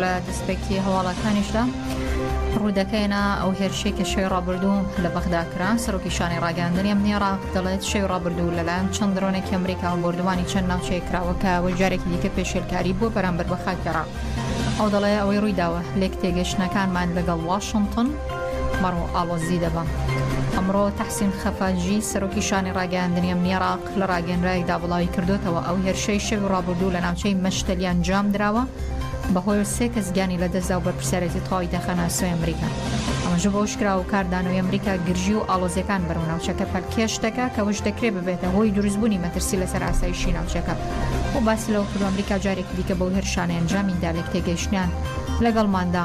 لە دەستپێکی هەواڵەکانیشدا ڕوودەکەێنا ئەو هێرشەی کە شێ ڕابردوو لە بەغدا کران سەرۆکی شانی ڕاگەاندنی ئەم نێڕا دەڵێت شێ ڕابردوو لەلایەن چەند درۆنێکی ئەمریکا و بردومانی چەند ناوچەیە کراوەکە و جارێکی دیکە پێشێلکاری بۆ بەرامبەر بە خاکێڕا ئەو دەڵێ ئەوەی ڕوویداوە لێک تێگەشتنەکانمان لەگەڵ واشنگتن مەڕۆ ئاڵۆزی دەبا. ئەمڕۆ تەحسین خەفاجی سەرۆکی شانی ڕاگەیاندنی ئەمنی عێراق لە ڕاگەنرایەکدا بڵاوی کردۆتەوە ئەو هێرشەی شەوی ڕابردوو لە ناوچەی مەشتەلی ئەنجام دراوە بەهۆی و سێ کەس گیانی لەدەستدا و بەرپرسیارێتی تەواوی دەخەنە ئەستۆی ئەمریکا ئەمەژە بە وشکرا و کاردانەوەی ئەمریکا گرژی و ئاڵۆزیەکان بەرەو ناوچەکە پەلکێش دەکا کەوش دەکرێ ببێتە هۆی دروستبوونی مەترسی لەسەر ئاسایشی ناوچەکە و باسی لەوە کردو ئەمریکا جارێکی دیکە بەو هێرشانە ئەنجامی دا لێک تێگەیشتنیان لەگەڵماندا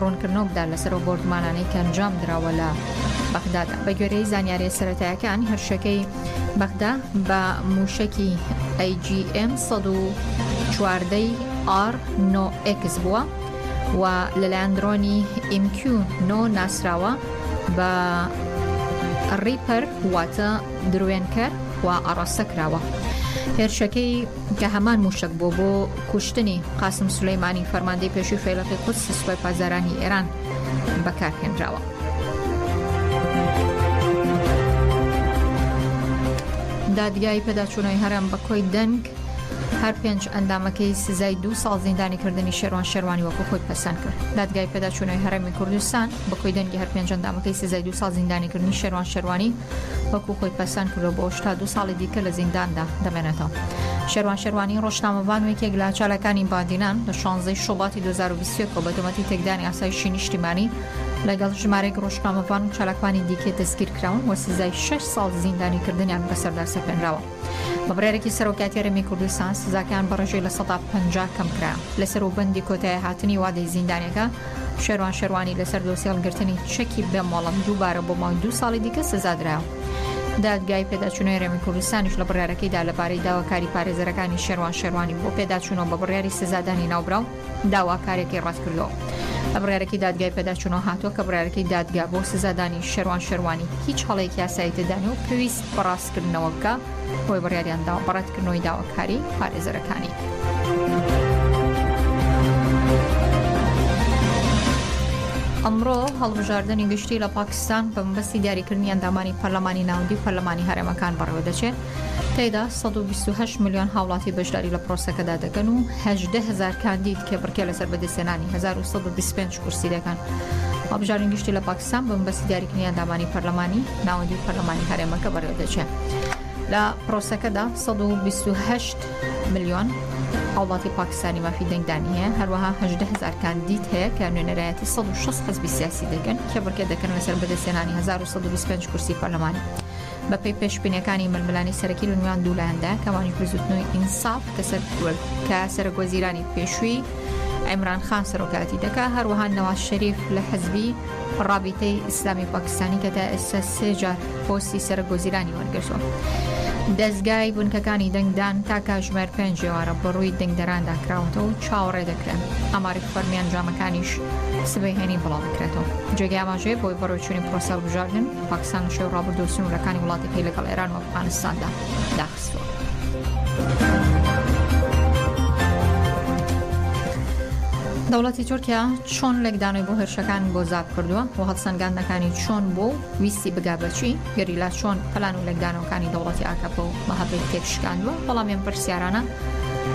ڕوونکردنەوە بدات لەسەر ئەو بۆردومانانەی کە ئەنجامدراوە لە بەغدادا بە گوێرەی زانیاریە سەرەتایەکان هەرشەکەی بەغدا بە موشەکی AGM 1940 R 9X بووە و لەلایەن درۆنی MQ 9 ناسراوە بە ڕیپەر واتە دروێنکەر و ئاڕاستە کراوە هێرشەکەی کە هەمان مووشەک بووە بۆ کوشتنی قاسم سولەیمانی فەرماندەی پێشووی فەیلەقی قودسی سوپای پاسدارانی ئێران بەکارهێنراوە. دادگای پێداچوونەوەی هەرێم بە کۆی دەنگ هەر پێنج ئەندامەکەی سزای دو ساڵ زیندانی کردنی شێوان شێوانی وەکو خۆی پەسەند کرد دادگای پێداچوونەوەی هەرێمی کوردستان بە کۆی دەنگی هەر پێنج ئەندامەکەی سزای دو ساڵ زیندانی کردنی شێوان شێوانی وەکو خۆی پەسەند کردوە بۆ ئەوەش تا دوو ساڵی دیکە لە زینداندا دەمێنێتەوە. شێروان شێروانی ڕۆژنامەڤان و یەکێک لە چالاکانی بادینان لە شانزەی شوباتی دوو هەزار و بیست و یەک ەوە بە تۆمەتی تێکدانی ئاسایشی نیشتیمانی لەگەڵ ژمارەیەک ڕۆژنامەڤان و چالاکوانی دیکە دەستگیرکراون و سزای شەش ساڵ زیندانیکردنیان بەسەردا سەپێنراوە. بە بڕیارێکی سەرۆکایەتی هەرێمی کوردستان سزاکەیان بە ڕێژەی لە سەدا پەنجا کەمکرا لەسەر و بەندی کۆتایی هاتنی وادەی زیندانەکە شێروان شێروانی لەسەر دۆسی هەڵگرتنی چەکی بێ مۆڵەت دووبارە بۆ ماوەی دوو ساڵی دیکە سزادرا دادگای پێداچوونەوەی هەرێمی کوردستانیش لە بڕیارەکەیدا لەبارەی داواکاری پارێزەرەکانی شێروان شێروانی بۆ پێداچوونەوە بە بڕیاری سزادانی ناوبراو داواکارێکی ڕەتکردەوە لە بڕارەکەی دادگای پێداچوونەوە هاتووە کە بڕارەکەی دادگا بۆ سزادانی شەروان شەروانی هیچ هەڵێک یاسایی تێدانێ و پێویست بەڕاست کردنەوە بکا بۆی بڕیاریان داوە بە ڕەتکردنەوەی داواکاری پارێزەرەکانی. ئەمڕۆ هەڵبژاردنی گشتی لە پاکستان بە مەبەستی دیاریکردنی ئەندامانی پەرلەمانی ناوەندی پەرلەمانی هەرێمەکان بەڕێوە دەچێت تێدا 128 میلیۆن هاوڵاتی بەشداری لە پرۆسەکەدا دەکەن و هەدە هزار کاندید کێبڕکێ لەسەر بەدەستێنانی 1925 کورسی دەکەن هەڵبژاردن گشتی لە پاکستان سام بە مەبەستی دیاریکردنی ئەندامانی پەرلەمانی ناوەندی و پەرلەمانی هەرێمەکە بەڕێوەدەچێت لە پرۆسەکەدا 128 ملیۆن هاوڵاتی پاکستانی مافی دەنگدانی هەیە هەروەها هەژدە هزار کاندید هەیە کە نوێنەرایەتی 1600 حزبی سیاسی دەکەن کێبڕکێ دەکەن لەسەر بەدەستێنانی 1925 کورسی پەرلەمانی بەپێی پێشبینیەکانی ململانی سەرەکی لە نوێان دوولایەندا کەوانیش بزوتنەوەی ئینساف کە سەر کرد کە سەرک وەزیرانی پێشووی ئەمران خان سەرۆکاتی دەکا هەروەها نەواز شەریف لە حەزبی ڕابیتەی ئیسلامی پاکستانی کە تا ئێستا سێجار پۆستی سەرک وەزیرانی وەرگرتووە. دەستگای بنکەکانی دەنگدان تا کاژمێر پێنج ێوارە بەڕووی دەنگدەراندا کراوەتەوە و چاوەڕێ دەکرێن ئەماری فەرمیان جامەکانیش سبەی هێنی بڵاو بکرێتەوە جێگەی ئاماژەیە بۆی بەڕۆچووی پرۆسەڵ بژاردن پاکستان لە شەوی ڕابردووە سنوورەکانی وڵاتەکەی لەگەڵ ئێران و ئەفغانستاندا داخستووە. دەوڵەتی تورکیا چۆن لێکدانەوەی بۆ هێرشەکان بۆ زاب کردووە بۆ هەڵسەنگاندنەکانی چۆن بۆ و ویستی بگا بەچی گەریلا چۆن پلان و لێکدانەوەکانی دەوڵەتی ئاکەپە و مەهەبەی تێکشکاندووە بەڵامیان پرسیارانە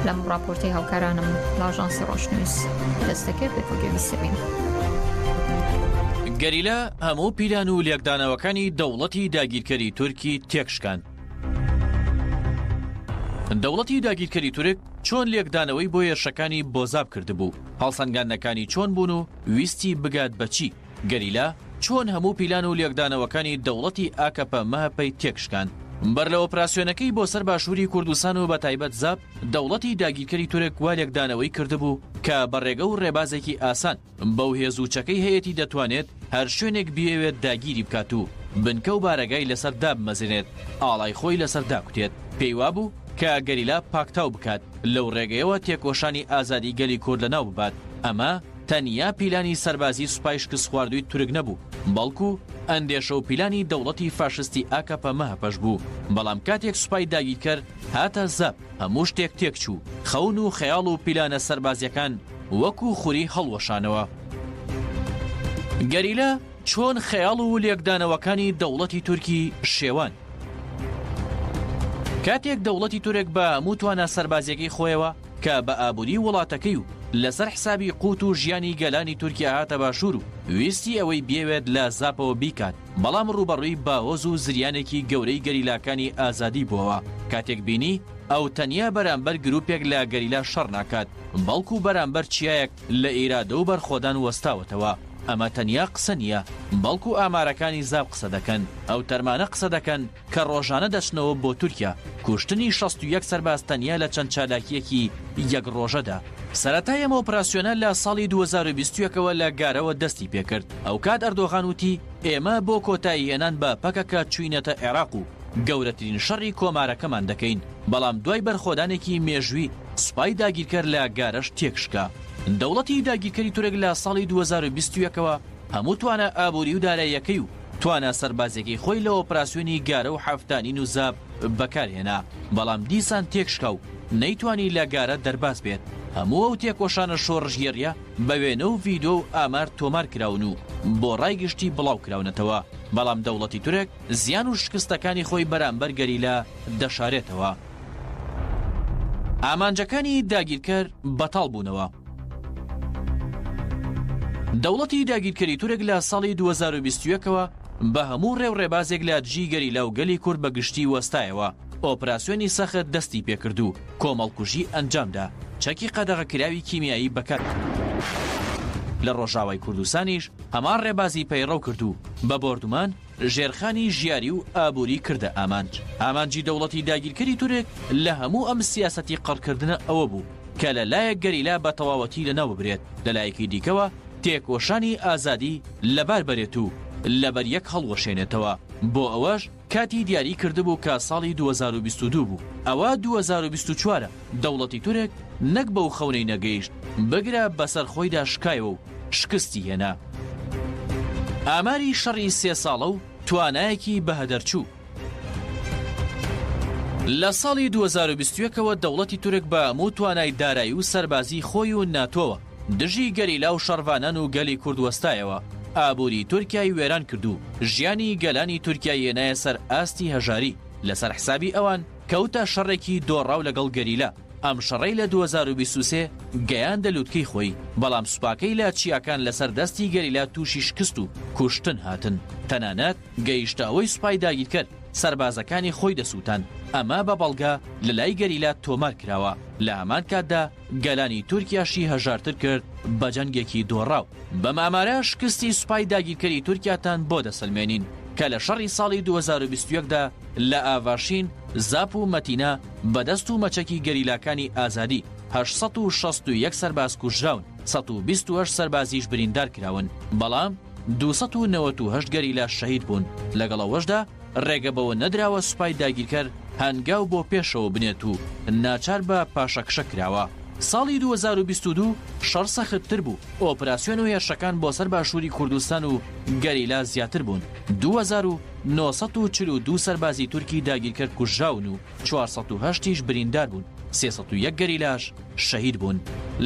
لەم ڕاپۆرتی هاوکارانم لاژانسی ڕۆشنویست دەستەکرد بێتۆگەویستبین. گەریلا هەموو پیلان و لێکدانەوەکانی دەوڵەتی داگیرکەری تورکی تێکشکان. دەوڵەتی داگیرکەری تورک چۆن لێکدانەوەی بۆ هێرشەکانی بۆزاب کردبوو، هەڵسەنگاندنەکانی چۆن بوون و ویستی بگات بە چی، گەریلا چۆن هەموو پیلان و لێکدانەوەکانی دەوڵەتی ئاکەپە-مەهەپەی تێکشکان. بەر لە ئۆپراسیۆنەکەی بۆ سەر باشووری کوردستان و بەتایبەت زاپ، دەوڵەتی داگیرکەری تورک وا لێکدانەوەی کردبوو کە بە ڕێگە و ڕێبازێکی ئاسان، بەو هێز و چەکەی هەیەتی دەتوانێت هەر شوێنێک بیەوێت داگیری بکات و بنکە و بارەگای لەسەر دابمەزرێنێت، ئاڵای خۆی لەسەر داکوتێت. پێی وابوو کە گەریلا پاکتاو بکات، لەو ڕێگەیەوە تێکۆشانی ئازادی گەلی کورد لەناو ببات. ئەمە تەنیا پیلانی سەربازی سوپای شکستخواردووی تورک نەبوو، بەڵکو ئەندێشە و پیلانی دەوڵەتی فاشستی ئاکەپە-مەهەپەش بوو. بەڵام کاتێک سوپای داگیرکەر هاتە زەپ، هەموو شتێک تێکچوو، خەون و خەیاڵ و پیلانە سەربازیەکان وەکو خوری هەڵوەشانەوە. گەریلا چۆن خەیاڵ و لێکدانەوەکانی دەوڵەتی تورکی شێوان. کاتێک دەوڵەتی تورک بە هەموو توانا سەربازیەکەی خۆیەوە کە بە ئابووری وڵاتەکەی و لەسەر حسابی قووت و ژیانی گەلانی تورکیا هاتە باشوور و ویستی ئەوەی بیەوێت لە زاپەوە بیکات، بەڵام ڕووبەڕووی باهۆز و زریانێکی گەورەی گەریلاکانی ئازادی بووەوە، کاتێک بینی ئەو تەنیا بەرامبەر گرووپێک لە گەریلا شەڕ ناکات، بەڵکو بەرامبەر چیایەک لە ئیرادە و بەرخۆدان وەستاوەتەوە. ئەمە تەنیا قسە نییە، بەڵکو ئامارەکانی زاپ قسە دەکەن، ئەو تەرمانە قسە دەکەن، کە ڕۆژانە دەچنەوە بۆ تورکیا، کوشتنی شەست و یەک سەرباز تەنیا لە چەند چالاکییەکی یەک ڕۆژەدا. سەرەتای ئەم ئۆپراسیۆنە لە ساڵی دوو هەزار و بیست و یەک ەوە لە گارەوە دەستی پێکرد، ئەوکات ئەردۆغان وتی، ئێمە بۆ کۆتاییهێنان بە پەکەکە چووینەتە عێراق و گەورەترین شەڕی کۆمارەکەمان دەکەین، بەڵام دوای بەرخۆدانێکی مێژووی سوپای داگیرکەر لە گارەش تێکشکا. دەوڵەتی داگیرکەری تورک لە ساڵی دوو هەزار و بیست و یەک ەوە هەموو توانا ئابووری و داراییەکەی و توانا سەربازیەکەی خۆی لە ئۆپراسیۆنی گارە و حەفتانین و زاپ بەکارهێنا، بەڵام دیسان تێکشکا و نەیتوانی لە گارە دەرباز بێت. هەموو ئەو تێکۆشانە شۆڕشگێڕیە بە وێنە و ڤیدۆ و ئامار تۆمار کراون و بۆ ڕای گشتی بڵاو کراونەتەوە، بەڵام دەوڵەتی تورک زیان و شکستەکانی خۆی بەرامبەر گەریلا دەشارێتەوە. ئامانجەکانی داگیرکەر بەتاڵ بوونەوە. دەوڵەتی داگیرکەری تورک لە ساڵی دوو هەزار و بیست و یەک ەوە بە هەموو ڕێ و ڕێبازێک لە دژی گەریلا و گەلی کورد بە گشتی وەستایەوە، ئۆپراسیۆنی سەخت دەستی پێکرد و کۆمەڵکوژی ئەنجامدا، چەکی قەدەغەکراوی کیمیایی بەکارهێنا. لە ڕۆژاوای کوردستانیش هەمان ڕێبازی پەیڕەو کرد و بە بۆردومان، ژێرخانی ژیاری و ئابووری کردە ئامانج. ئامانجی دەوڵەتی داگیرکەری تورک لە هەموو ئەم سیاسەتی قڕکردنە ئەوە بوو کە لە لایەک گەریلا بە تەواوەتی لە ناو ببرێت، لە لایەکی دیکەوە تێکۆشانی ئازادی لە بار بەرێت و لە بەر یەک هەڵوەشێنێتەوە. بۆ ئەوەش کاتی دیاری کردبوو کە ساڵی دوو هەزار و بیست و دوو بوو. ئەوە دوو هەزار و بیست و چوار ە. دەوڵەتی تورک نەک بەو خەونەی نەگەیشت، بگرە بەسەر خۆیدا شکایەوە و شکستی هێنا. ئاماری شەڕی سێ ساڵە و توانایەکی بەهەدەرچوو. لە ساڵی دوو هەزار و بیست و یەک ەوە دەوڵەتی تورک بە هەموو توانای دارایی و سەربازی خۆی و ناتۆوە دژی گەریلا و شەڕڤانان و گەلی کورد وەستایەوە، ئابووری تورکیای وێران کرد و ژیانی گەلانی تورکیای هێنایە سەر ئاستی هەژاری، لەسەر حسابی ئەوان کەوتە شەڕێکی دۆڕاو لەگەڵ گەریلا. ئەم شەڕەی لە دوو هەزار و بیست و سێ گەیاندە لوتکەی خۆی، بەڵام سوپاکەی لە چیاکان لەسەر دەستی گەریلا تووشی شکست و کوشتن هاتن، تەنانەت گەیشتە ئەوەی سوپای داگیرکەر سەربازەکانی خۆی دەسووتان، ئەمە بە بەڵگە لەلای گەریلا تۆمار کراوە، لە هەمان کاتدا گەلانی تورکیاشی هەژارتر کرد بە جەنگێکی دۆڕاو. بەم ئامارە شکستی سوپای داگیرکەری تورکیاتان بۆ دەسەلمێنین، کە لە شەڕی ساڵی دوو هەزار و بیست و یەک دا لە ئاڤاشین، زاپ و مەتینا، بە دەست و مەچەکی گەریلاکانی ئازادی هەشت سەد و شەست و یەک سەرباز کوژراون، سەد و بیست و هەشت سەربازیش بریندار کراون، بەڵام دوو سەد و نەوەت و هەشت گەریلا شەهید بوون، لەگەڵ ئەوەشدا ڕێگە بەوە نەدراوە سوپای داگیرکەر هەنگاو بۆ پێشەوە بنێت و ناچار بە پاشەکشە کراوە. ساڵی دوو هەزار و بیست و دوو شەڕ سەختتر بوو، ئۆپراسیۆن و هێرشەکان بۆ سەر باشووری کوردستان و گەریلا زیاتر بوون، دوو هەزار و نۆ سەد و چل و دوو سەربازی تورکی داگیرکەر کوژراون و چوار سەد و هەشت یش بریندار بوون، سێ سەد و یەک گەریلاش شەهید بوون.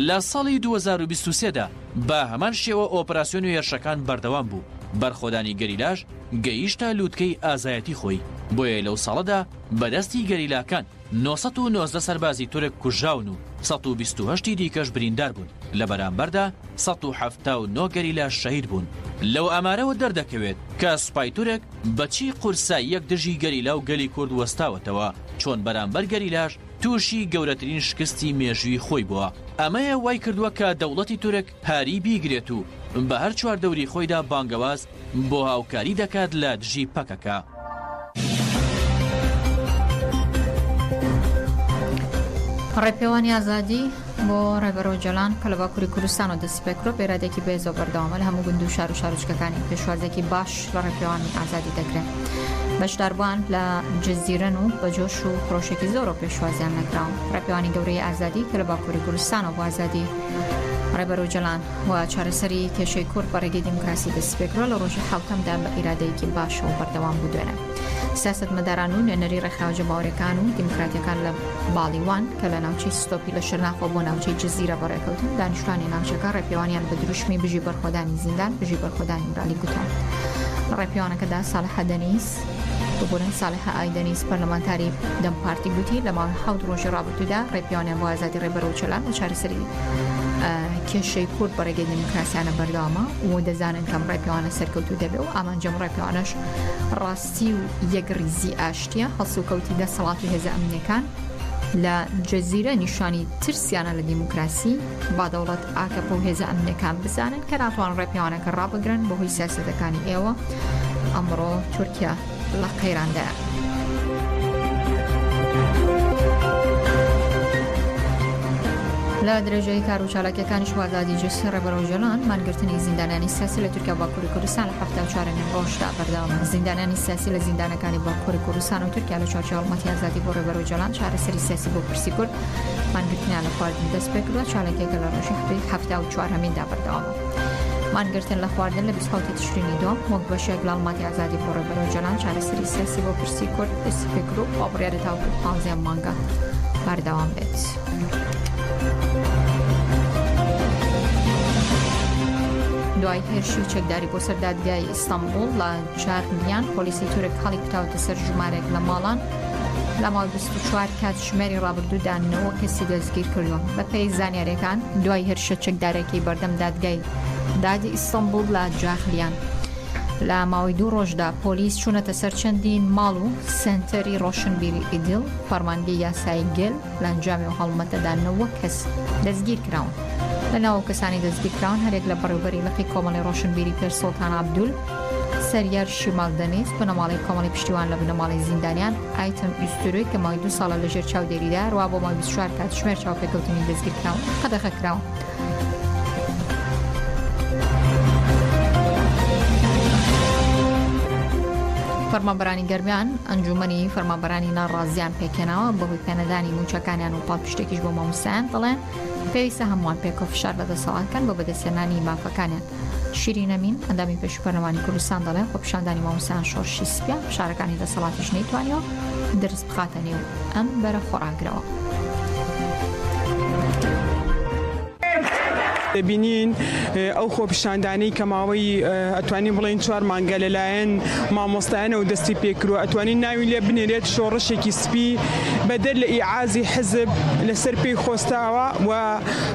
لە ساڵی دوو هەزار و بیست و سێ دا بە هەمان شێوە ئۆپراسیۆن و هێرشەکان بەردەوام بوو، بەرخۆدانی گەریلاش گەیشتە لووتکەی ئازایەتی خۆی، بۆیە لەو ساڵەدا بە دەستی گەریلاکان، نۆ سەد و نۆزدە سەربازی تورک کوژراون و سەد و بیست و هەشت ی دیکەش بریندار بوون، لە بەرامبەردا سەد و حەفتا و نۆ گەریلاش شەهید بوون. لەو ئامارەوە دەردەکەوێت کە سوپای تورک بە چی قورساییەک دژی گەریلا و گەلی کورد وەستاوەتەوە، چۆن بەرامبەر گەریلاش تووشی گەورەترین شکستی مێژووی خۆی بووە. ئەمەیە وای کردووە کە دەوڵەتی تورک هاری بیگرێت و بە هەر چواردەوری خۆیدا بانگەواز، بۆ هاوکاری دەکات لە دژی پەکەکە. ڕێپێوانی ئازادی بۆ ڕێبەر ئۆجەلان کە لە باکووری کوردستانەوە دەستی پێکرۆ بێرادێکی بەێزە و بەردەوامە لە هەموو گوند و شار و شارۆچکەکانی پێشوازێکی باش لە ڕێپێوانی ئازادی دەکرێت بەشداربووان لە جززیرەن و بە جۆش و خرۆشێکی زۆر و پێشوازیان نەکراون ڕێپێوانی گەورەی ئازادی کە لە باکووری کوردستانەوە بۆ ئازادی ڕێبەر ئۆجەلان و چارەسەری کێشەی کورد بە ڕێگەی دیموکراسی دەستپێکرا لە ڕۆژی حوتەمدا بە ئیرادەیەکی باشەوە بەردەوام بوو دوێنە سیاستمەداران و نوێنەری ڕێکخراوە جەماوەرەکان و دیموکراتەکان لە باڵیوان کە لە ناوچەی ستۆپی لە شەرناخۆ بۆ ناوچەی جززیرە بەڕێکەوتن دانیشتوانی ناوچەکە ڕێپێوانیان بە دروشمی بژی بەرخۆدانی زیندان بژی بەرخۆدانی مرالی گوتان لە ڕێپیوانەکەدا ساڵحەدەنیس دەکات. ببورن سالحە ئای دەنیز پەرلەمانتاری دەم پارتی گوتی لە ماوەی حەوت ڕۆژی ڕابردوودا ڕێپیاوانیان بۆ ئازادی ڕێبەر ئۆجەلان لە چارەسەری کێشەی کورد بە ڕێگەی دیموکراسیانە بەردەوامە و دەزانن کەم ڕێپیاوانە سەرکەوتوو دەبێ و ئامانجەم ڕێپیاوانەش ڕاستی و یەکڕیزی ئاشتیە هەڵسوکەوتی دەسەڵات و هێزە ئەمنیەکان لە جزیرە نیشانی ترسیانە لە دیموکراسی با دەوڵەت ئاکەپە و هێزە ئەمنیەکان بزانن کە ناتوان ڕێپیاوانەکە ڕابگرن بەهۆی سیاسەتەکانی ئێوە ئەمڕۆ تورکیا لە قەیراندایە. لە درێژەی کار و چالاکیەکانی شوازادی جسی ڕێبەرەوە جۆلان مانگرتنی زیندانانی سیاسی لە تورکیا باکووری کوردستان لە هەفتا چوارەمین ڕۆژدا بەردەوامە زیندانانی سیاسی لە زیندانەکانی باکووری کوردستان و تورکیا لە چوارچێوەڵمەتی ئازادی بۆ ڕێبەرەوە جۆلان چارەسەری سیاسی بۆ پرسی کورد مانگرتنیان لە خواردن دەست پێ کردووە چالاکیەکە لە ڕۆژی هەفتەی هەفتا و چوارهەمیندا بەردەوامە مانگرتن لە خواردن لە بیسحوتی تشرینی دووەم وەک بەشێک لە هەڵماتی ئازادی خۆڕێ بەرەو جەلان چارەسەری سیاسی بۆ پرسی کورد دەستی پێ کرد و خۆبڕیارە تاوەکو پانزەیەم مانگە بەردەوام بێت. دوای هێرشی چەکداری بۆ سەر دادگای ئیستانبول لە چاغیان پۆلیسی تورک هەڵی کوتاوتە سەر ژمارێک لە ماڵان لە ماوەی 24 کات ژمێری ڕابردوودا نەوە کەسی دەستگیرکردووە. بەپێی زانیارییەکان، دوای هێرشە چەکدارێکی بەردەم دادگای دادی ئیستەنبوڵ لە جاخلیان، لە ماوەی دوو ڕۆژدا پۆلیس چوونەتە سەر چەندین ماڵ و سەنتەری ڕۆشنبیری ئیدیڵ، فەرمانگەی یاسایی گێل لە ئەنجامی ئەو هەڵمەتەدا نەوە کەس دەستگیرکراون. لە ناو کەسانی دەستگیرکراون هەرێک لە بەڕێوبەری لقی کۆمەڵی ڕۆشنبیری پێر سوڵتان عەبدول، سەریار شیمال دەنیز، بنەماڵەی کۆمەڵی پشتیوان لە بنەماڵەی زیندانیان، ئایتەم ئوستورۆی کە ماوەی دوو ساڵە لەژێر چاودێریدا، هەروەها بۆ ماوەی بیست و چوار کاتژمێر چاوپێکەوتنی دەستگیرکراون قەدەغەکراون. فەرمانبەرانی گەرمیان ئەنجوومەنی فەرمانبەرانی ناڕازیان پێکهێناوە بەهۆی پێنەدانی مووچەکانیان و پاڵپشتێکیش بۆ ماموسایان دەڵێن پێویستە هەمووان پێکەوە فشار لە دەسەڵات کەن بۆ بەدەستێنانی مافەکانیان شیرین ئەمین، ئەندامی پێشووی پەرلەمانی کوردستان دەڵێ، خۆپیشاندانی مامۆستایان شۆڕشی سپییە، فشارەکانی دەسەڵاتیش نەیتوانیوە درز بخاتە نێو ئەم بەرە خۆڕاگرەوە. دەبینین ئەو خۆپیشاندانەی کە ماوەی ئەتوانین بڵێن چوار مانگە لەلایەن مامۆستایانەوە دەستی پێکرو ئەتوانین ناوی لێ بنێرێت شۆڕشێکی سپی بەدەر لە ئیعازی حزب لەسەر پێی خۆستاوە و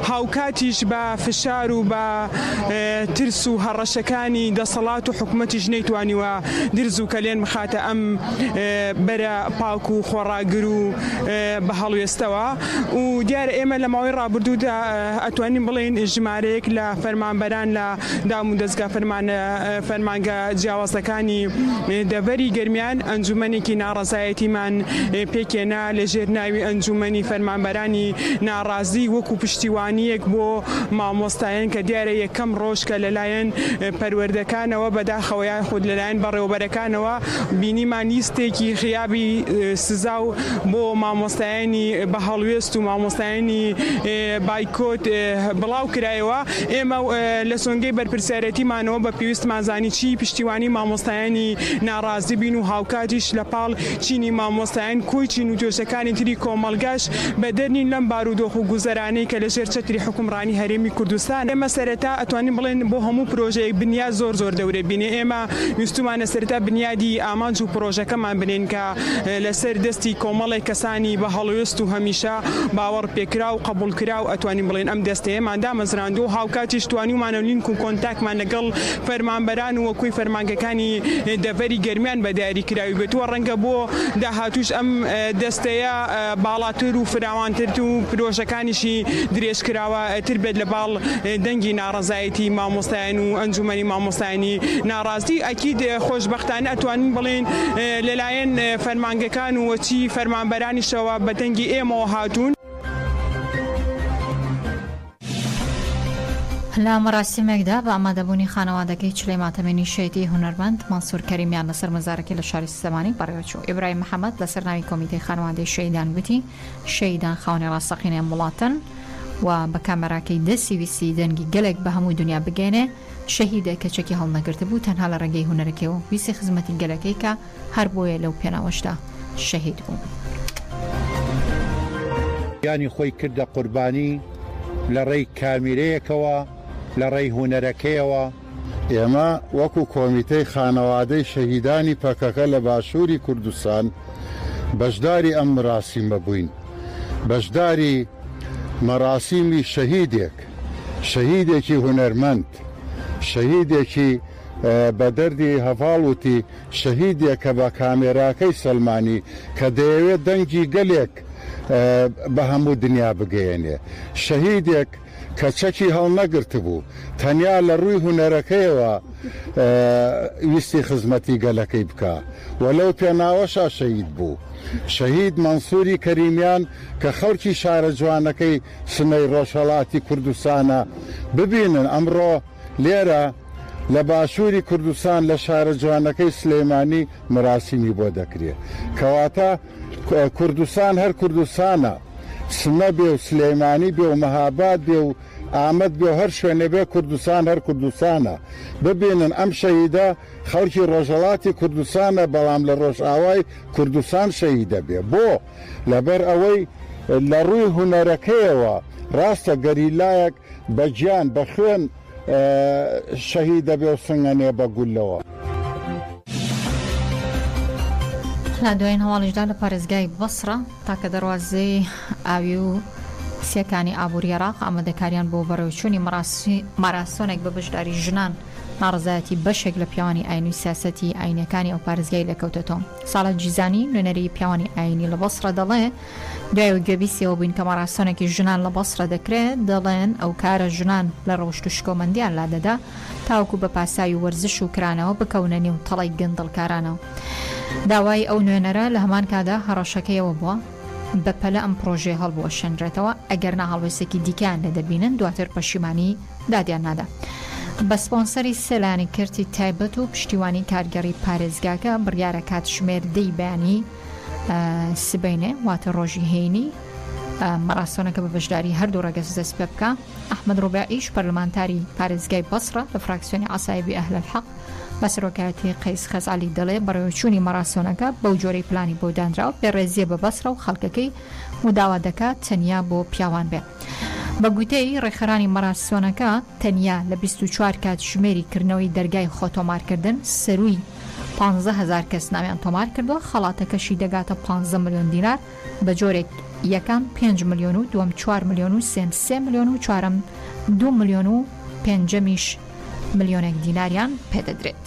هاوکاتیش بە فشار و بە ترس و هەڕەشەکانی دەسەڵات و حکومەتیش نەیتوانیوە درز و کەلێن بخاتە ئەم بەرە پاک و خۆڕاگر و بە هەڵوێستەوە و دیارە ئێمە لە ماوەی ڕابردوودا ئەتوانین بڵێین ژمارەیەک لە فەرمانبەران لە دام و دەزگا فەرمانە فەرمانگە جیاوازەکانی دەڤەری گەرمیان ئەنجومەنێکی ناڕەزایەتیمان پێکێنا لە ژێر ناوی ئەنجومەنی فەرمانبەرانی ناڕازی نەورۆزی وەکو پشتیوانییەک بۆ مامۆستایان کە دیارە یەکەم ڕۆژ کە لەلایەن پەروەردەکانەوە بەداخەوە یاخود لەلایەن بەڕێوەبەرەکانەوە بینیمان لیستێکی غیابی سزا و بۆ مامۆستایانی بە هەڵوێست و مامۆستایانی بایکۆت بڵاو کرایەوە ئێمە لە سۆنگەی بەرپرسیارێتیمانەوە بە پێویستمان زانی چی پشتیوانی مامۆستایانی ناڕازی بین و هاوکاتیش لە پاڵ چینی مامۆستایان کۆی چین و توێژەکانی تری کۆمەڵگاش بەدەر نین لەم بارودۆخ و گوزەرانەی کە لەژێر چەتری حوکمڕانی هەرێمی کوردستان ئێمە سەرەتا ئەتوانین بڵێن بۆ هەموو پرۆژەیەک بنیاد زۆر زۆر دەورەبینە ئێمە ویستومانە سەرەتا بنیادی ئامانج و پرۆژەکەمان بنێن کە لەسەر دەستی کۆمەڵێک کەسانی بە هەڵوێست و هەمیشە باوەڕپێکراو و قەبوڵکراو ئەتوانین بڵێن ئەم دەستەیەمان دامەزراندووە و هاوکاتیش توانیومانە لینک و کۆنتاکمان لەگەڵ فەرمانبەران و کۆی فەرمانگەکانی دەڤەری گەرمیان بە دیاریکراوی بێت و ڕەنگە بۆ داهاتووش ئەم دەستەیە باڵاتر و فراوانتر و پرۆژەکانیشی درێژکراوە تر بێت لە باڵ دەنگی ناڕەزایەتی مامۆستایان و ئەنجومەنی مامۆستایانی ناڕازی ئەکید خۆشبەختانە ئەتوانین بڵێین لەلایەن فەرمانگەکان و چی فەرمانبەرانیشەوە بە دەنگی ئێمەوە هاتوون. لە مەراسیمێکدا بە ئامادەبوونی خانەوادەکەی چلەی ماتەمێنی شەیدی هونەرمەند مەنسور کەریمیان لەسەر مەزارەکەی لە شاری سلێمانی بەڕێوەچوو ئیبراهیم محەمەد لەسەر ناوی کۆمیتەی خانەوادەی شەیدان گوتی شەیدان خاوەنی ڕاستەقینەی ئەم وڵاتەن و بە کامێراکەی دەستی ویستی دەنگی گەلێک بە هەموو دونیا بگەیەنێ شەهیدێک کە چەکی هەڵنەگرتبوو تەنها لە ڕێگەی هونەرەکەیەوە ویستی خزمەتی گەلەکەی کا هەر بۆیە لەو پێناوەشدا شەهید بوو. گیانی خۆی کردە قوربانی لە ڕێی کامیرەیەکەوە، لە ڕێی هونەرەکەیەوە. ئێمە وەکو کۆمیتەی خانەوادەی شەهیدانی پەکەکە لە باشوری کوردستان بەشداری ئەم مراسیمە بووین، بەشداری مەراسیمی شەهیدێک، شەهیدێکی هونەرمەند، شەهیدێکی بە دەردی هەڤاڵ وتی، شەهیدێک کە بە کامێراکەی سەلمانی کە دەیەوێت دەنگی گەلێک بە هەموو دنیا بگەیەنێ. شەهیدێک کە چەکی هەڵنەگرتبوو، تەنیا لە ڕووی هونەرەکەیەوە ویستی خزمەتی گەلەکەی بکا و لەو پێناوەشا شەهید بوو. شەهید مەنسووری کەریمیان کە خەڵکی شارە جوانەکەی سنەی ڕۆژهەڵاتی کوردستانە ببینن ئەمڕۆ، لێرە لە باشووری کوردستان لە شارە جوانەکەی سلێمانی مراسیمی بۆ دەکرێ. کەواتە کوردستان هەر کوردستانە، سنە بێ و سلێمانی بێ و مەهاباد بێ و ئامەد بێ و هەر شوێنێ بێ کوردستان هەر کوردستانە. ببینن ئەم شەهیدە خەڵکی ڕۆژهەڵاتی کوردستانە بەڵام لە ڕۆژئاوای کوردستان شەهید دەبێ. بۆ؟ لەبەر ئەوەی لە ڕووی هونەرەکەیەوە ڕاستە گەریلایەک، بە گیان بە خوێن شەهید دەبێ و سنگەنێ بە گوللەوە. لە دوایین هەواڵیشدا لە پارێزگای بەسڕە تاکە دەروازەی ئاوی و سیەکانی ئابووری عێراق ئامادەکاریان بۆ بەڕێوچوونی ماراسۆنێک بە بەشداری ژنان ناڕزایەتی بەشێک لە پیاوانی ئاین و سیاسەتی ئاینەکانی ئەو پارێزگای لێکەوتێتەوە ساڵە جیزانی نوێنەری پیاوانی ئاینی لە بەسڕە دەڵێ دوای ئەوەی گوێبیستیەوە بووین کە مەڕاسەنێکی ژنان لە بەسرە دەکرێ، دەڵێن ئەو کارە ژنان لە ڕەوشت و شکۆمەندیان لا دەدا تاوەکو بە پاساوی وەرزش و کرانەوە بکەونە نێو تەڵەی گەندەڵکارانەوە. داوای ئەو نوێنەرە لە هەمان کاتدا هەڕەشەکەی ئەوە بووە بە پەلە ئەم پڕۆژەیە هەڵبوەشێنرێتەوە ئەگەرنا هەڵوێستێکی دیکەیان لێ دەبینن دواتر پەشیمانی دادیان نادا بە سپۆنسەری سێ لایەنی کەرتی تایبەت و پشتیوانی کارگێڕی پارێزگاکە بڕیارە کاتژمێر دەی بەیانی سبەینێ واتە ڕۆژی هەینی مەڕاستۆنەکە بە بەشداری هەردوو ڕەگەز دەست پێ بکە ئەحمد ڕوبعیش پەرلمانتاری پارێزگای بەسڕە لە فراکسیۆنی عسایبی ئەهل الحق بە سەرۆکایەتی قەیس خەزعلی دەڵێ بەڕێوەچوونی مەڕاستۆنەکە بەو جۆرەی پلانی بۆ دانراو پێڕێزیە بە بەسڕە و خەڵکەکەی و داوا دەکات تەنیا بۆ پیاوان بێ. بە گوتەی ڕێکخەرانی مەراسۆنەکە، تەنیا لە بیست و چوار کاتژمێری کردنەوەی دەرگای خۆتۆمارکردن، سەرووی پانزە هەزار کەس ناویان تۆمار کردووە، خەڵاتەکەشی دەگاتە پانزە ملیۆن دینار، بە جۆرێک یەکەم پێنج ملیۆن و دووەم چوار ملیۆن و سێم سێ ملیۆن و چوارەم دوو ملیۆن و پێنجەمیش ملیۆنێک دیناریان پێ دەدرێت.